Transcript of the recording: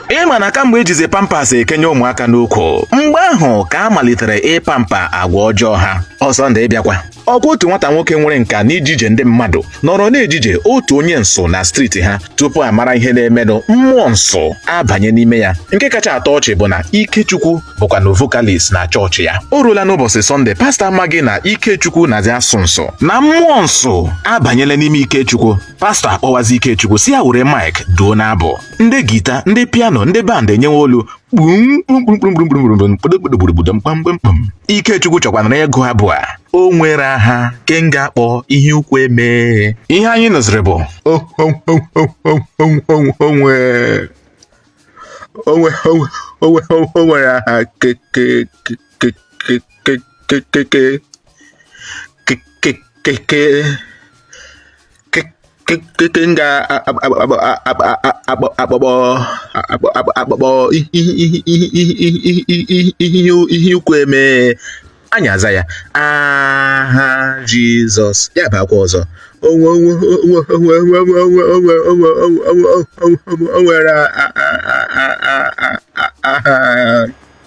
ị ma na kamgbe ejizi pampas ekenye ụmụaka n'ukwu mgbe ahụ ka a malitere ịpampa agwa ọjọọ ha ọ sọnde ị bịakwa ọkwa otu nwata nwoke nwere nka n'ijije ndị mmadụ nọrọ na-ejije otu onye nsụ na steeti ha tupu a mara ihe na-emenụ mmụọ nsụ abanye n'ime ya nke kacha atọ ọchị bụ na Ikechukwu bụkwanụ vokalis na chọọchị ya o ruola n'ụbọchị sọnde pastọ amaghị na Ikechukwu na-azị asụ nsụ na mmụọ nsụ abanyela n'ime Ikechukwu pastọ akpọwazi Ikechukwu sị ya were mic duo n'abụ ndị gita ndị piano ndị band enyewe olu kpumkpumkpumkpumkpumkpumkpumkpumkpumkpumkpum Ikechukwu chọkwanụrụ ịgụ abụ a o nwere aha ke m ga-akpọ ihe ukwu eme ihe anyị nụziri bụ o nwe o nwe o nwe o nwere aha ke ke ke ke m ga-akpọkpọ akpọkpọ ihe ukwu eme anyị aza ya aha jizọs ya bịakwa ọzọ o nwere aha